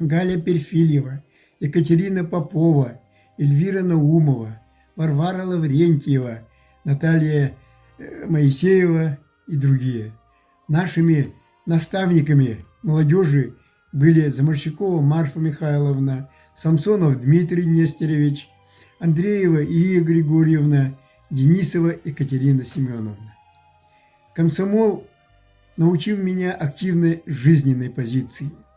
Галя Перфильева, Екатерина Попова, Эльвира Наумова, Варвара Лаврентьева, Наталья Моисеева и другие. Нашими наставниками молодежи были Заморщикова Марфа Михайловна, Самсонов Дмитрий Нестерович, Андреева Ия Григорьевна, Денисова Екатерина Семеновна. Комсомол научил меня активной жизненной позиции –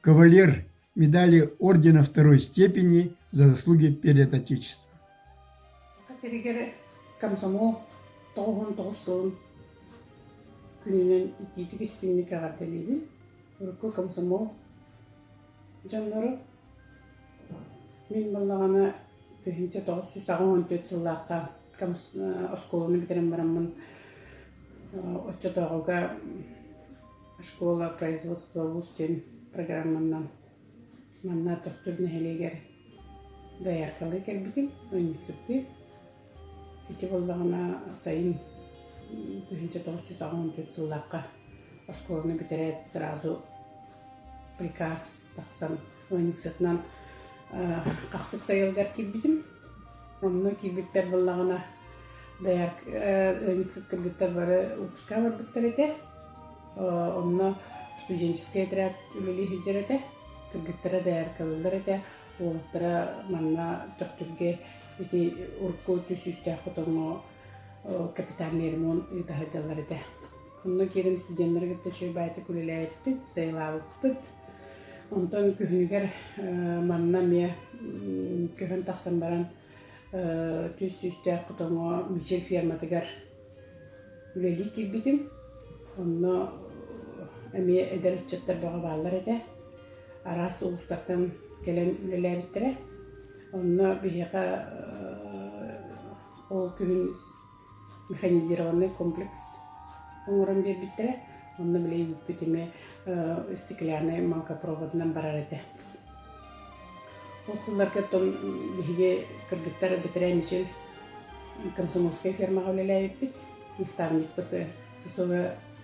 кавалер медали ордена второй степени за заслуги перед Отечеством. Катеригере комсомол тоҕуһун тоҕус сылын күнүнэн итиитик истиҥник эҕэрдэлиибин урукку комсомол дьоннору мин баллаҕана тыһыынча тоҕус сүүс аҕыс уон төрт сыллаахха оскуоланы бүтэрэн бараммын оччотооҕуга Школа производства уус диэн программаннан манна Тохтур нэһилиэгэр дояркалыы кэлбитим, ыанньыксыттыы. Ити буоллаҕына сайын тыһыынча тоҕус жүз аҕыс он төрт сыллаахха оскуоланы бүтэрээт сразу приказ тахсан ыанньыксытынан хахсык сайылгар киирбитим онно киирбиттэр буоллаҕына даяр ыанньыксыт кыргыттар бары выпускаҕа барбыттар этэ онно студенческай отряд үлэлии сылдьар этэ кыргыттара даяркалыыллар этэ уолуттара манна төхтүргэ ити урукку түс сүүстээх хотоҥҥо капитан нермун ыыта сылдьаллар этэ Онно кэлим студеннары кытта чэйбаайтык үлэлээбиппит, сайылаабыппыт. Онтон күһүнүгэр манна эмиэ көһөн тахсан баран түс сүүстээх хотоҥо Мичил ферматыгар үлэлии киирбитим. Онно эмиэ эдэр ыччаттар бөҕө бааллар этэ. Араас улуустартан кэлэн үлэлээбиттэрэ. Онно биһиэхэ ол күһүн механизированный комплекс оҥорон биэрбиттэрэ онно билиһиннэрбиппит эмиэ стеклянный мелкопроводунан барар этэ ол сылларга оттон биһиги кыргыттар бэтэрээ мичил комсомольскай фермаҕа үлэлээбиппит наставникпыт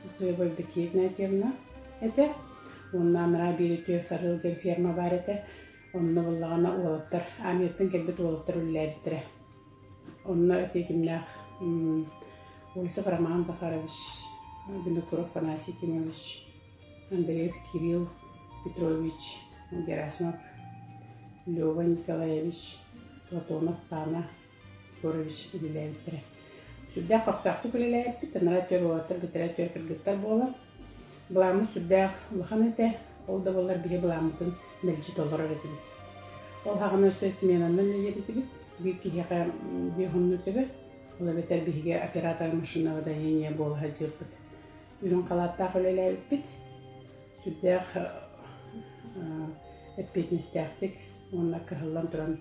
сосуобай бекетная темна этэ уонна анараа биэри түөрт сарыал диэн ферма баар этэ онно буоллаҕына уолаттар армияттан кэлбит уолаттар үлэлээбиттэрэ Онно ответимнээх Ольсов Роман Захарович, Винокуров Афанасий Якимович, Андреев Кирилл Петрович, Герасимов Лева Николаевич, Платонов Пана Егорович үлэлээбиттэрэ. Сүрдээх көхтөөхтүк үлэлээбиппит, анараа түөр уолаттар битэрээ түөр кыргыттар буолан Былааммыт сүрдээх улахан этэ, ол да буоллар биһи былааммытын мэлдьи толорор этибит. Ол аһаҕана өссө сменанан үлэлиир этибит. Биир киһиэхэ биоһунну төбө, ол эбэтэр биһиги операторы машинного водоения буола сылдьыырбыт. Үрүҥ халааттаах үлэлээбиппит. Сүрдээх эппиэтинэстээхтик уонна кыһыллан туран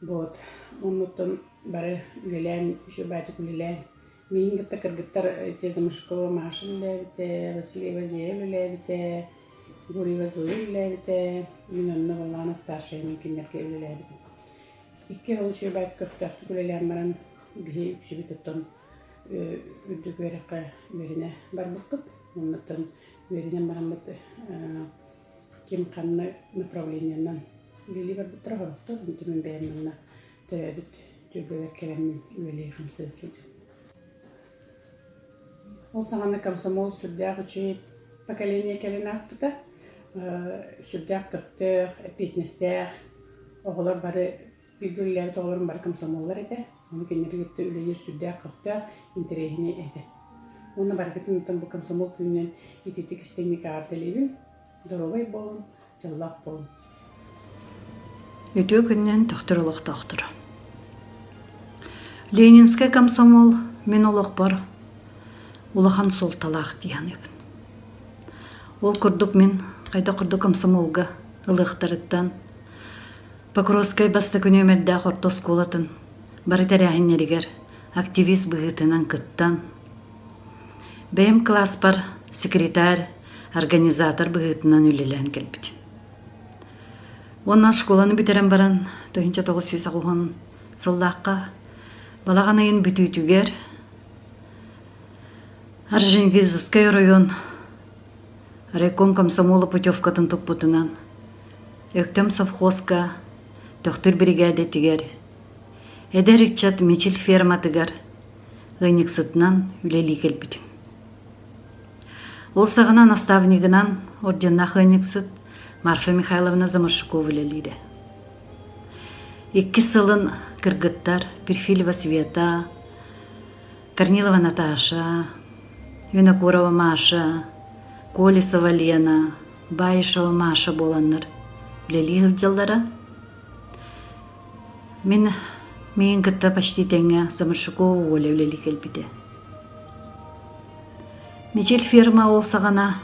Буот оннуттан бары үлэлээн, үс убаатык үлэлээн, миигин кытта кыргыттар ити Замашкова Маша үлэлээбитэ, Василий Вазеев үлэлээбитэ, Гурьева Зоя үлэлээбитэ, мин онно Валана старшая мин кинилэргэ үлэлээбитим. Икки ол үс убаатык көхтөөхтүк үлэлээн баран киһи үксүбүт оттон үрдүк үөрэххэ үөрэнэ барбыппыт. Оннуттан үөрэнэн бараммыт ким ханна направлениенан билии барбыттара соруктар онтон мин бэйэм манна төрөөбүт түөлбэбэр кэлэммин үлэлии хамсыы сылдьым ол саҕана комсомол сүрдээх үчүгэй поколение кэлэн ааспыта сүрдээх көхтөөх эппиэтинэстээх оҕолор бары Кииргиллээн тоҕолорун бары комсомоллар этэ. Ону кинилэри кытта үлэлиир сүрдээх-көхтөөх интэриэһинэй этэ. Уонна барыгытын оттон бу комсомол күнүнэн ититик истиҥник аҕардалыыбын. Доруобай буолун, дьоллоох буолун. Үтүө күннэн төхтүр олохтоохтор. Ленинскай комсомол мин олохпор улахан суолталаах дии саныыбын. Ол курдук мин хайда курдук комсомолга ылыахтарыттан Покровскай бастакы нүөмэрдээх орто оскуолатын бары тэрээһиннэригэр активист быһыытынан кыттан, бэйэм кылааспар секретарь, организатор быһыытынан үлэлээн кэлбитим. Уонна школаны бүтэрэн баран 1990 сыллаахха балаҕан ыйын бүтүүтүгэр Арженгизовскай оройуон райком комсомола путевкатын туппутунан Өктөм совхозка, Төхтүр биригээдэтигэр, эдэр ыччат Мичил ферматыгар ыанньыксытынан үлэлии кэлбитим. Ол саҕана наставнигынан орденнаах ыанньыксыт Марфа Михайловна Заморшукова үлэлиирэ. Иккис сылын кыргыттар Перфилева Света, Корнилова Наташа, Винокурова Маша, Колесова Лена баайша-маша буоланнар үлэлии сылдьаллара. Мин миин кытта почти тэҥҥэ Замышакова Оля үлэлии кэлбитэ. Мичил ферма ол саҕана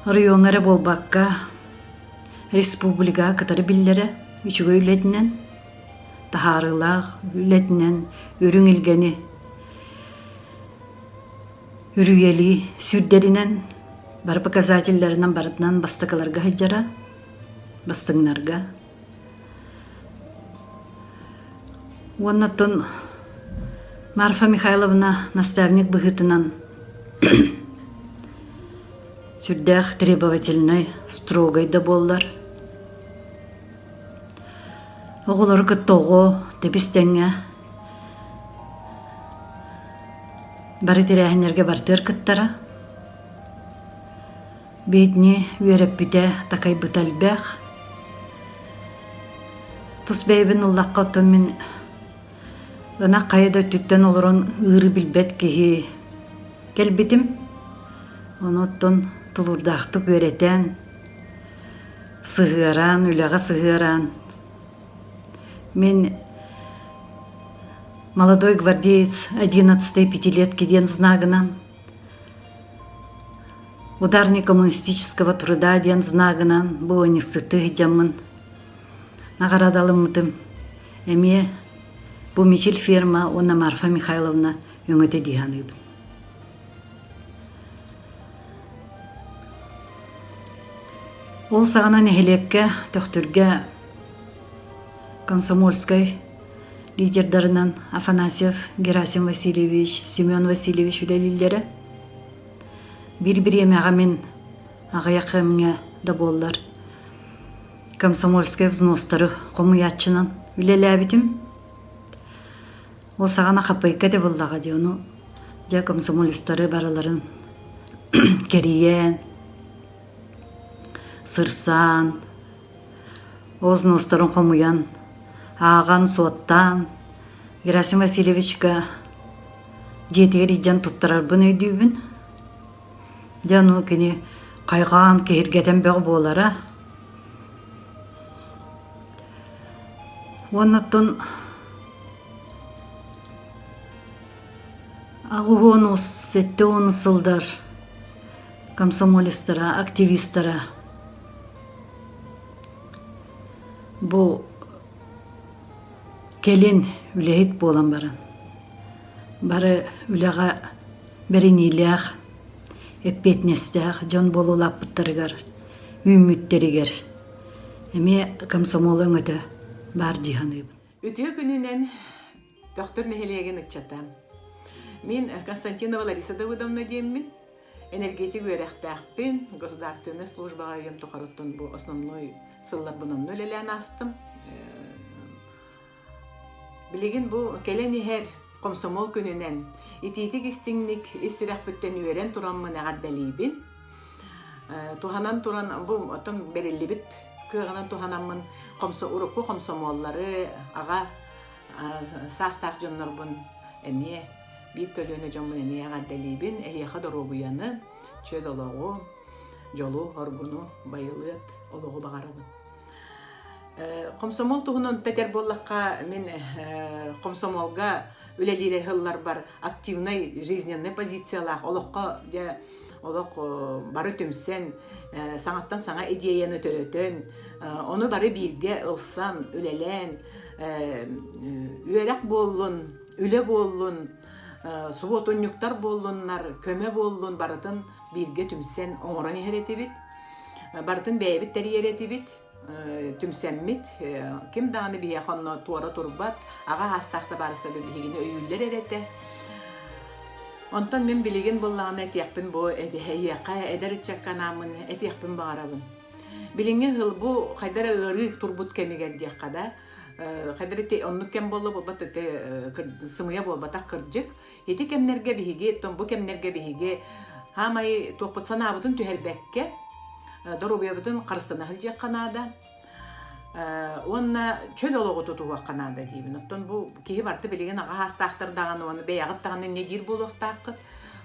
райоҥа эрэ буолбакка республикаға кытары биллері үчүгэй үлэтинен таһаарылаах үлэтинен үрүҥ илгэни Үрүйэлии сүүрдэринэн, бары показателлэринэн барытынан бастакыларга сылдьара, бастыҥнарга. Уонна оттон Марфа Михайловна наставник быһыытынан сүрдээх требовательнай, строгай да буоллар. Оҕолору кытта оҕо тэбис тэҥҥэ Бары тэрээһиннэргэ бартыар кыттара. Бедни үөрэппитэ, такайбыта элбэх. Тус бэйэбин ыллахха оттон мин ынах хайа да өттүттэн олорон ыыры билбэт киһи кэлбитим. Ону оттон тулуурдаахтык үөрэтэн, сыһыараан, үлэҕэ сыһыараан Мин молодой гвардеец одиннадцатой пятилетки диэн знагынан ударник коммунистического труда диэн знагынан быоньсыты дьаммын наҕарадалыммытым эмиэ бу мичил ферма уонна марфа михайловна өҥөтө дии саныыбын ол саҕана нэһилиэккэ төхтүргэ комсомольскай лидердарынан афанасьев герасим васильевич семен васильевич үлэлииллэрэ биир бириэмэҕэ мин аҕыйахымҥа да буоллар комсомольскай взностары хомуйааччынан үлэлээбитим ол саҕана хапайка да буоллаҕа дии ону дьэ комсомолецтары барыларын кэрийэн сырсаан Ознуостарын хомуйан, ааҕан-суоттаан, Герасим Васильевичка дьиэтигэр илдьэн туттарарбын өйдүүбүн. Дьэ ну кини хайҕаан киһиргэтэн бөҕө буолара. Уонуттан аҕыс уон сэттэ уон сылдар комсомолецтара, активистара Бу кэлин үлэһит буолан баран бары үлэҕэ бэриниилээх, эппиэтинэстээх дьон буола улааппыттарыгар, үүммүттэригэр эмиэ комсомол өҥөтө баар дии саныыбын. Үтүө күнүнэн Тохтор нэһилиэгин ыччата. Мин Константинова Лариса Давыдовна диэммин. Энергетик үөрэхтээхпин, государственной службаҕа үйэм тухарыттан бу основной сылларбын онно үлэлээн аастым. Билигин бу кэлэн иһэр комсомол күнүнэн итиитик-истиҥник ис сүрэхпиттэн үөрэн тураммын эҕэрдэлиибин. Туһанан туран бу оттон бериллибит кыаҕынан туһанаммын урукку комсомоллары, аҕа саастаах дьоннорбун эмиэ биир көлүөнэ дьоммун эмиэ эҕэрдэлиибин эһиэхэ доруобуйаны чөл олоҕу дьолу оргуну байылыат олоҕу баҕарабын хомсомуол туһунан эппэтэр буоллахха мин хомсомуолга үлэлиир ыһылларбар активнай жизненнай позициялаах олоххо дьэ олох бары түмсэн, саҥаттан саҥа идеяны төрөтөн, ону бары бииргэ ылсан, үлэлээн, үөрэх буоллун, үлэ буоллун, субуотунньуктар буоллуннар, көмө буоллун барытын бииргэ түмсэн оҥорон иһэр этибит. Барытын бэйэбит тэрийэр этибит. түмсэммит ким даҕаны биһиэхэ онно туора турбат аҕа аастаах да баар саби биһигини өйүүллэр эр этэ онтон мин билигин буллаҕына этиэхпин бу эһиэхэ эдэр ыччакка анааммын этиэхпин баҕарабын билиҥҥи ыһыл бу хайдара ыарыы турбут кэмигэр диэххэ да хайдара оннук кэм буолла буолбат сымыйа буолбатах кырдьык Ити кэмнэргэ биһиги, бу кэмнэргэ биһиги хаамай туохпут санаабытын түһэрбэккэ, доруобуйабытын харыстана сылдьыахха наада. уонна чөл олоҕу тутуһуохха наада диибин. Оттон бу киһи барыта билигин аҕа саастаахтар даҕаны уонна бэйэҕит даҕаны эмиэ диир буолуохтааххыт.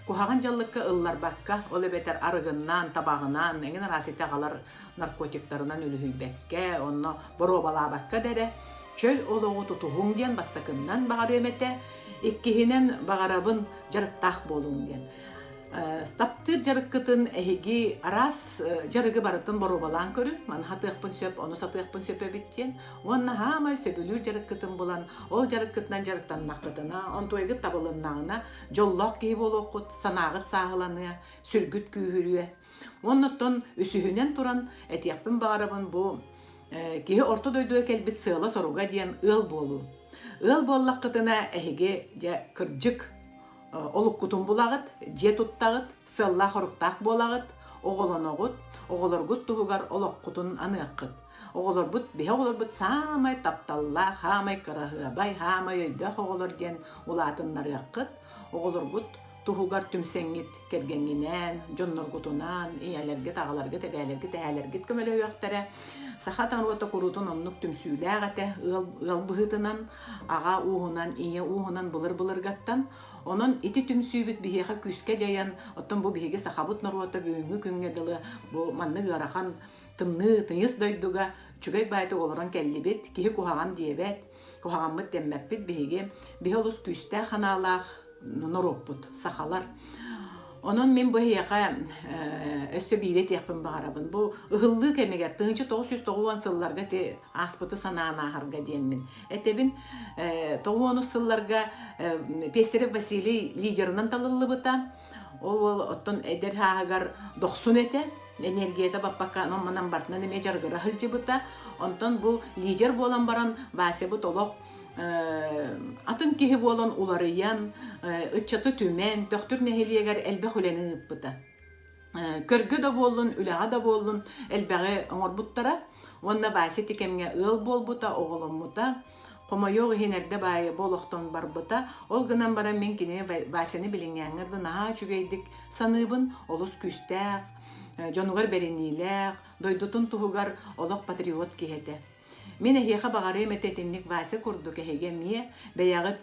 Куһаҕан дьаллыкка ылларбакка, ол эбэтэр арыгыннаан, табаҕынаан, эҥин араас ити аҕалар наркотиктарынан үлүһүйбэккэ, онно боруобалаабакка да эрэ чөл олоҕу тутуһуҥ диэн бастакыннан баҕарыам этэ, иккиһинэн баҕарабын дьарыктаах буолуҥ диэн. Стаптыыр дьарыккытын эһиги араас дьарыгы барытын боруобалаан көрүн, маны сатыахпын сөп, ону сатыахпын сөп эбит диэн. Уонна хаамай сөбүлүүр дьарыккытын булан, ол дьарыккытынан дьарыктаннаххытына, онтуйгыт табылыннаҕына, дьоллоох киһи буолуоххут, санааҕыт сааһыланыа, сүргүт күүһүрүө. Уонна оттон үсүһүнэн туран этиэхпин баҕарабын бу киһи орто дойдуга кэлбит сыала-соруга диэн ыал буолуу. Ыал буоллаххытына эһиги дьэ кырдьык олуккутун булаҕыт, дьиэ туттаҕыт, сыаллаах-соруктаах буолаҕыт, оҕолоноҕут, оҕолоргут туһугар олоххутун аныаххыт. Оҕолорбут, биһи оҕолорбут саамай тапталлаах, саамай кыраһыабай, саамай өйдөөх оҕолор диэн улаатыннарыаххыт. Оҕолоргут туһугар түмсэҥҥит кэргэҥҥинээн, дьонноргутунаан, ийэлэргит, аҕаларгыт, эбээлэргит, эһээлэргит көмөлөһүөхтэрэ. Саха норуота куруутун оннук түмсүүлээх этэ. Ыал, ыал быһыытынан, аҕа ууһунан, ийэ ууһунан былыр-былыргаттан. Онон ити түмсүүбүт биһиэхэ күүскэ дьайан, оттон бу биһиги сахабыт норуота бүгүҥҥү күҥҥэ дылы бу маннык ыарахан тымныы тыйыс дойдуга үчүгэй баайдык олорон кэллибит, киһи куһаҕан диэбэт, куһаҕаммыт кэммэппит биһиги биһи олус күүстээх санаалаах норуоппут сахалар Онон мин бу эһиэхэ өссө биири этиэхпин баҕарабын. Бу ыһыллыы кэмигэр тыһыынча тоҕус жүз тоҕуон сылларга ти ааспыты санаан ааһарга диэммин этэбин. Тоҕуонус сылларга Пестерев Василий лидерынан талыллыбыта. Ол уол оттон эдэр сааһыгар дохсун этэ, энергията баппакка анам-манан бартынан эмиэ дьарыгыра сылдьыбыта. Онтон бу лидер буолан баран Васябыт олох атын киһи буолан уларыйан, ыччаты түмэн, Төхтүр нэһилиэгэр элбэх үлэни ыыппыта. көргө да буоллун, үлэҕэ да буоллун элбэҕи оҥорбуттара. Уонна Вася ити кэмҥэ ыал буолбута, оҕоломмута. Хомойуох иһин эрдэ баайы бу олохтон барбыта, ол гынан баран мин кини Васяны билиҥҥээҥҥэр да наһаа үчүгэйдик саныыбын, олус күүстээх, дьонугар бэриниилээх, дойдутун туһугар олох патриот киһи этэ. Мин эһиэхэ баҕарыам этэ итинник Вася курдук эһиги эмиэ бэйэҕит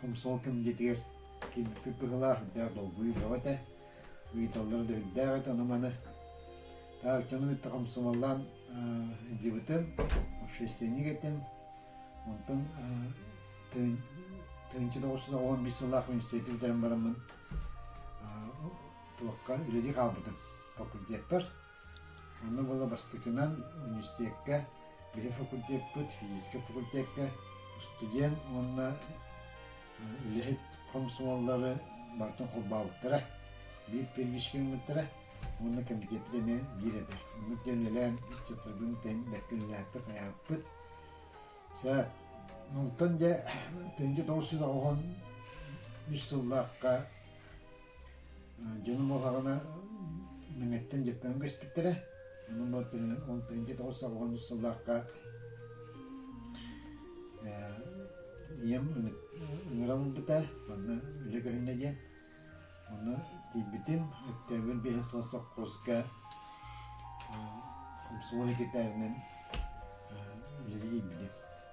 Хомсол комитетигэр киирбиппит быһылаах үрдээх долгуйуу бөҕө этэ. Ыйыталлара да үрдээх этэ ону-маны. Тааччаны кытта хамсамаллаан дьыбытым, общественник этим. Онтон тыһыынча тоҕус жүз оҕо биэс сыллаах университеты бүтэрэн бараммын туохха үлэлии хаалбытым. Факультетпар. Ону ыла бастакынан университекка, билим факультеппыт, физическэй факультекка устудьуон уонна үлэһит хомсомуоллары барытын холбообуттара. Биир первичкэ гыммыттара уонна кэмитиэппит эмиэ биир этэ. Оннук диэн үлэлээн ыччаттарбын тэйэн бэркэ үлэлээппит, хайааппыт. Сэ онтон дьэ тыһыынча тоҕус жүз оҕоһун үс сыллаахха дьонум буоллаҕына Мэҥэттэн Дьөппөөн көспүттэрэ. Онон он тоҕус сыллаах сыллаахха ийэм ыҥыран ылбыта манна үлэ көһүннэ диэн. Ону тиийбитим октябрь биэһэ суон сопхуоска хомсуой секретарынан үлэлии тиийбитим.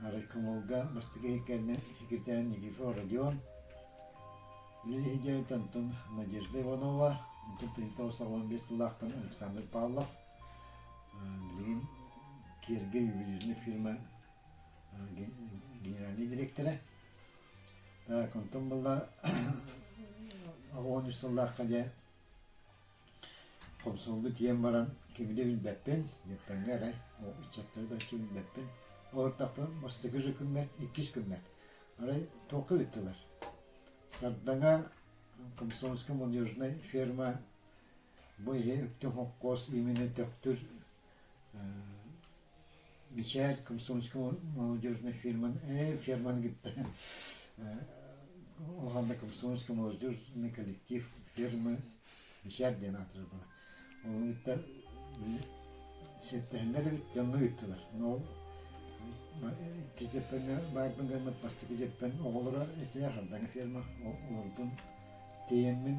райкомолга бастакы кэннэ секретарь Никифор Родион, үлэ иһитиннэрит Антон Надежда Иванова, Антон Танитов саҕалаан биэс сыллаахтан Александр Павлов, билигин Киерге ювелирная фирма генеральный директора. Так, онтон была оҕуон үс сыллаахха дьэ Хомсомолбут тиийэн баран кими да билбэппин, Ньурпаҥҥа эрэ ол ыччаттары да оччо билбэппин. Олортохпун бастакы күммэт, иккис күммэт. Арай туохха ыыттылар? Сардаҥа комсомольская молодежная ферма бу иһи Өктөм хонхоос именно Төхтүр Мичээр Комсомольская молодежная фирманы э фирманы кытта улахан да комсомольскай молодежный коллектив фирмы Мичээр диэн аатырар буолар. Ону кытта сиэттэһиннэр эбит дьоҥҥо ыыттылар. Ол кизеппен баарбын гаммыт бастакы жеппен оҕолоро итине хардаҥа фирма олорбун тиэммин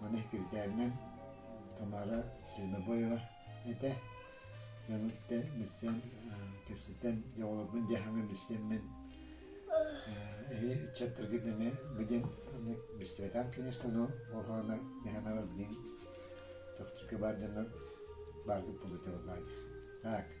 Маны үтүөтээнинэн Тамара Свинобоева этэ. Дьону кытта билсэн, кэпсэтэн, дьэ оҕолорбун дьэ аһаҥа билсэммин, эһи ыччаттаргыт эмиэ билиэн маннык билсибэтэх конечно болҕооно механабар билигин тохтурга баар дьоннор бааргыт булутабыллаан. Так.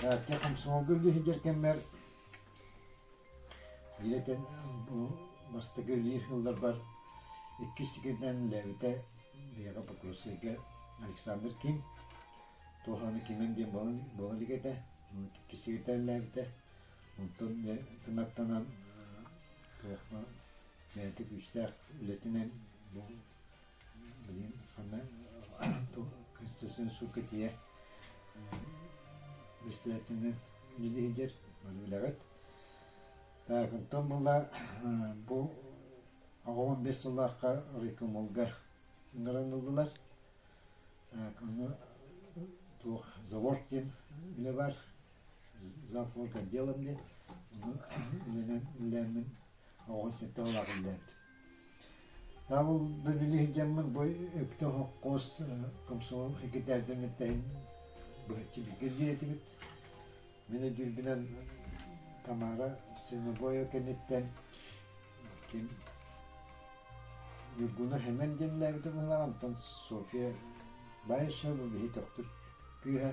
Таатта комсомолга үллэһийдэр кэммэр ирэтэн бу бастакы үлэлиир сылларбар иккис сикиринэн үлэлээбитэ биһиэхэ Покровскайга Александр Ким туох аны кимэн диэн буола буола илик этэ иккис сикирдэ үлэлээбитэ онтон дьэ кынаттанан кыахха бэйэтэ күүстээх үлэтинэн бу Блин, аны туох конституционный суд кэтийэ председателинэн үлэлиһидер бары билэҕит. Таакынтон була бу аҕам бес сыллаахха райкомолгар ыңгараныллылар. Так, ону туох завод диэн үлэ бар, завхоз отделом диэн, ону үлэнэн үллээммин оҕон сетте олаах үллээбит. Наабыл да били иһдьэммин бу үптэ хоххоос комсомол секретарьдарын эттэһин быһаччы билгиргиир этибит. Мин өйдүүрбүнэн Тамара Свиногоева кэнниттэн ким Ньургуна Хэмэн дьэнлээбитэ быһылааҕа, онтон Софья Баишева бу биһи төхтүр күүһэ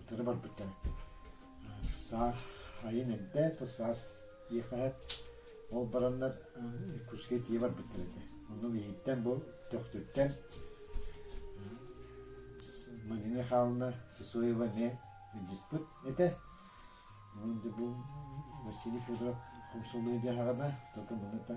утары барбыттара саа айын эрдэ то саас диэхэһэ ол бараннар куска тие барбыттар этэ ону иһиттэн бу төхтүттэн Марина Михайловна Сысоева ме диспут этэ Василий Федоров хомсулуй диэхаҕына только муната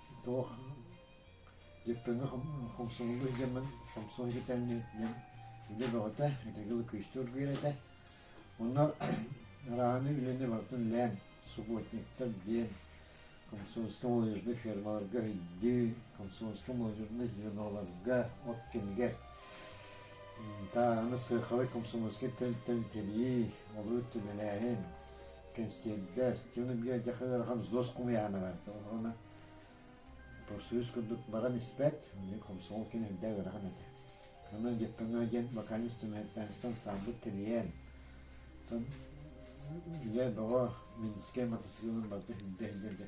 Тоох Дьэппэҥҥэ Хомсомолу иһитэммин Хомсол иһитэнни диэн үлэ бөҕөтө, итиги Лыкыыстыыр биэрэтэ. Онно арааһыны үлэни барытын үлээн, субботниктар диэн комсомольскай молодежнай фермаларга өйдүү, комсомольскай молодежнай звеналарга, от кэмигэр тааһыны сыархалай комсомольскай тэрилтэни тэрии, олору төлөлөөһүн, кэнсиэрдэр Тюна Бия Дяха Ыарахан Зос Кумыяхана барда уна профсоюз курдук баран испэт хомсоол кин үрдэ ыарахан этэ Онон Геккаҥа диэн вокальный инструментанстан саабыт тэлиэн Тон Дьэ, баҕа Минскэй мотоциклын барда хүндэ хүндэ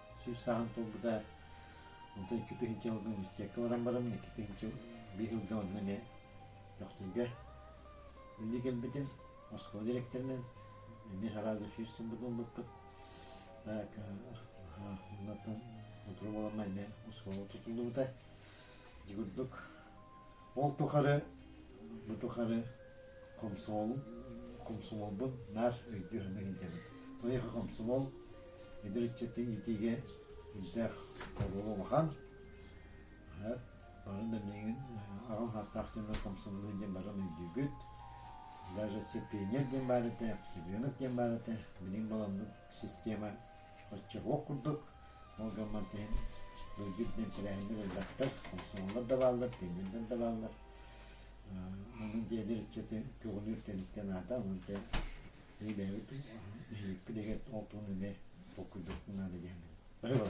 сүүс сааһын туолбута онтон икки тыһыынча алган бистиэккэ баран баран икки тыһыынча биир ылга онно эмиэ Төхтүргэ үлэ кэлбитим оскуола дириэктэринэн эмиэ сразу сүүс сылбыт ылбыппыт оннуттан утура буолан эмиэ оскуола тутуллубута дьигурдук Ол тухары бу тухары комсомол комсомолбун наар өйдүү-санаан илдьэбин. Байыха комсомол эдэр ыччаты иитиигэ илдээх оруола улахан. Барын да миңин аҕам хаастаах дьоннор комсомолу диэн баран өйдүүгүт. Даже Сепенер диэн баарыта, Чемпионат диэн баарыта, билиҥ баламмыт система оччоҕуох курдук, ол гаммар иһин былдьык диэн тэрээһиннэр элбэхтэр, комсомоллар да бааллар, пионердар да бааллар. Онон дьиэлэр ыччаты көҕүлүүр тэрилтэ наада, онон те бэйэбит эһиэкпит эгэр ол туһун үлэ толкуйдуохпун наада диэн. Бары бар.